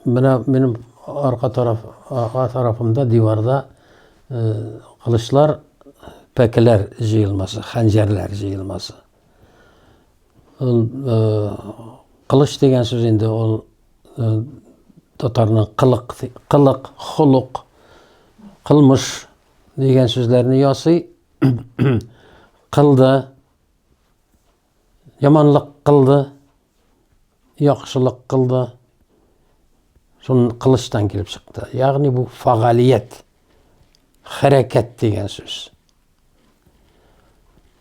Менә минем арка тараф, арка тарафымда диварда кылычлар, пәкеләр җыелмасы, хәнҗәрләр җыелмасы. Ул кылыч дигән сүз инде ул татарның кылык, кылык, холык, кылмыш дигән сүзләрне ясый. Кылды, яманлык кылды яхшылык кылды. Шуның кылычтан килеп чыкты. Ягъни бу фагалият, хәрәкәт дигән сүз.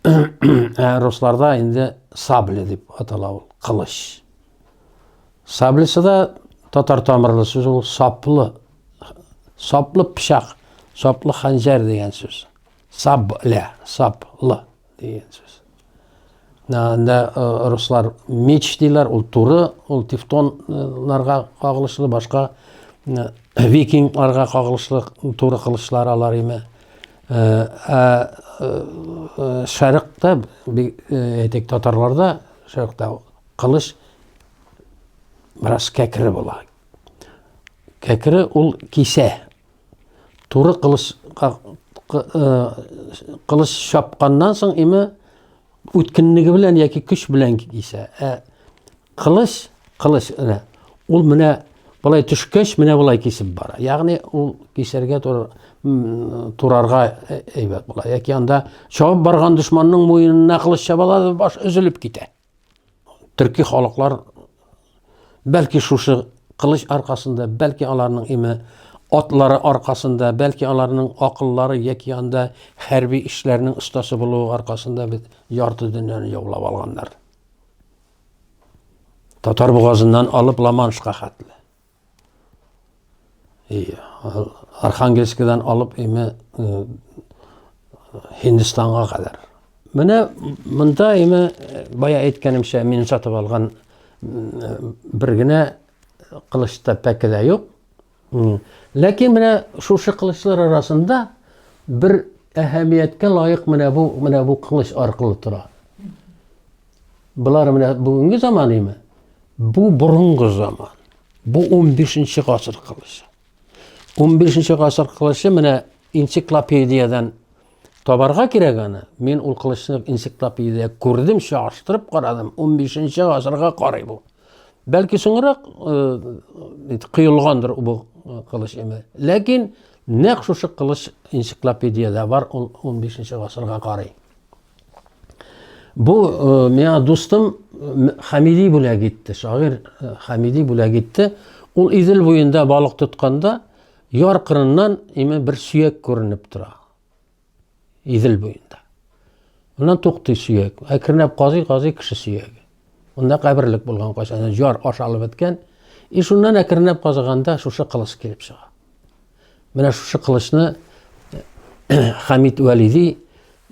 Ә русларда инде сабли дип атала ул, кылыч. Саблисы да татар тамырлы сүз ул саплы. Саплы пычак, саплы ханжар дигән сүз. Сабля, саплы. Дигән сүз. Анда э, руслар меч диләр, ул туры, ул тевтоннарга кагылышлы, башка э, викингларга кагылышлы туры кылычлар алар име. Э, ә шәрыкта, әйтик, татарларда шәрыкта кылыч бераз кәкре була. Кәкре ул кисә, Туры кылыч кылыч чапканнан соң име үткенлеге белән яки көч белән кисә. Ә кылыч, кылыч менә ул менә болай төшкәч менә болай кисеп бара. Ягъни ул кисәргә турарга әйбәт була. Яки анда чабып барган дошманның муенына кылыч чабалар, баш өзелеп китә. Төрки халыклар бәлки шушы кылыч аркасында, бәлки аларның име атлары аркасында, бәлки аларның акыллары яки анда хәрби эшләрнең остасы булуы аркасында бит ярты дөньяны яулап алганнар. Татар бугазыннан алып Ламаншка хәтле. Архангельскидан алып име Һиндстанга кадәр. Менә монда име бая әйткәнемчә мин сатып алган бер генә кылычта пәке дә юк. Ләкин менә шушы кылычлар арасында бер әһәмияткә лаек менә бу менә бу кылыч аркылы тора. Болар менә бүгенге заман име? Бу борынгы заман. Бу 15-нче гасыр кылычы. 15-нче гасыр кылычы менә энциклопедиядән табарга кирәк аны. Мин ул кылычны энциклопедиядә күрдем, чагыштырып карадым. 15-нче гасырга карый бу. Бәлки соңрак э, кыелгандыр бу э, кылыч име. Ләкин нәкъ шушы кылыч энциклопедиядә бар, ул 15-нче гасырга карый. Бу э, миңа дустым э, Хамиди бүләк итте, шагыйрь э, Хамиди бүләк итте. Ул Идел буенда балык тотканда яр кырыннан име бер сөяк күренеп тора. Идел буенда. Моннан туктый сөяк. Әкренләп казый, казый кеше сөяге. Унда каберлек булган кайчан, җар ашалып беткән. И шуннан әкренләп казыганда шушы кылыч килеп чыга. Менә шушы кылычны Хамид Вәлиди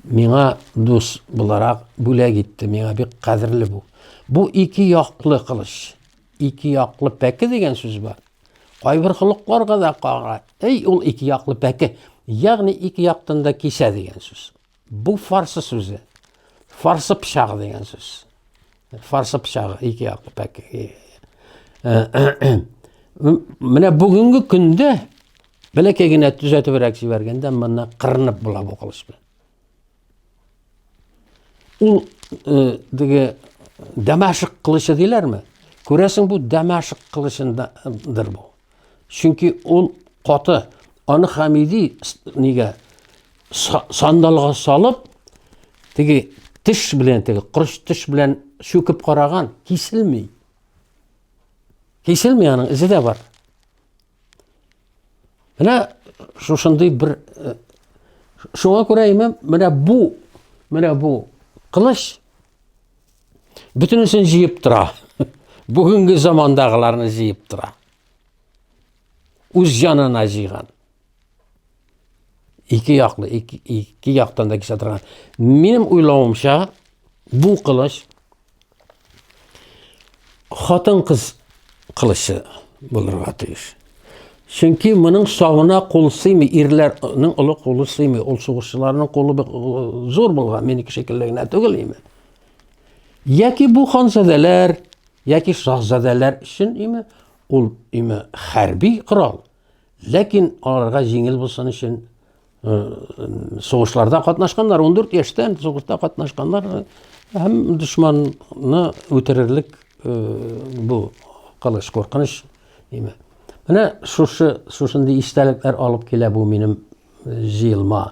миңа дус буларак бүләк итте. Миңа бик кадерле бу. Бу ике яклы кылыч. Ике яклы пәке дигән сүз бар. Кайбер холыкларга да кара. Эй, ул ике яклы пәке. Ягъни ике яктан да кисә дигән сүз. Бу фарсы сүзе. Фарсы пычагы дигән сүз. Фарсы пычагы ике яклы пәк. Менә бүгенге көндә бәләкәй генә төзәтебрәк җибәргәндә монда кырынып була бу кылыч белән. Ул э, диге Дамашык кылычы диләрме? Күрәсең бу Дамашык кылычындадыр бу. Чөнки ул каты. Аны Хамиди нигә сандалга салып, теге теш белән, теге кырыш теш белән чүкеп караган, киселми. Киселми аның изе дә бар. Менә шушындый бер э, шуңа күрә имем, менә бу, менә бу кылыч Бөтенесен җыеп тора. Бүгенге замандагыларны җыеп тора. Үз җанына җыйган. Ике яклы, ике, ике яктан да кисә торган. Минем уйлавымча, бу кылыч Хатын-кыз кылычы булырга тиеш. Чөнки моның савына кул сыймый, ирләрнең олы кулы сыймый. Ул сугышчыларның кулы зур булган, минеке шикелле генә түгел име? Яки бу ханзадәләр, яки шаһзадәләр өчен име? Ул име хәрби корал. Ләкин аларга җиңел булсын өчен э, сугышларда катнашканнар, 14 яшьтән сугышта катнашканнар э, һәм дошманны үтерерлек э, бу кылыч куркыныч димә. Менә шушы шушындый истәлекләр алып килә бу минем җыелма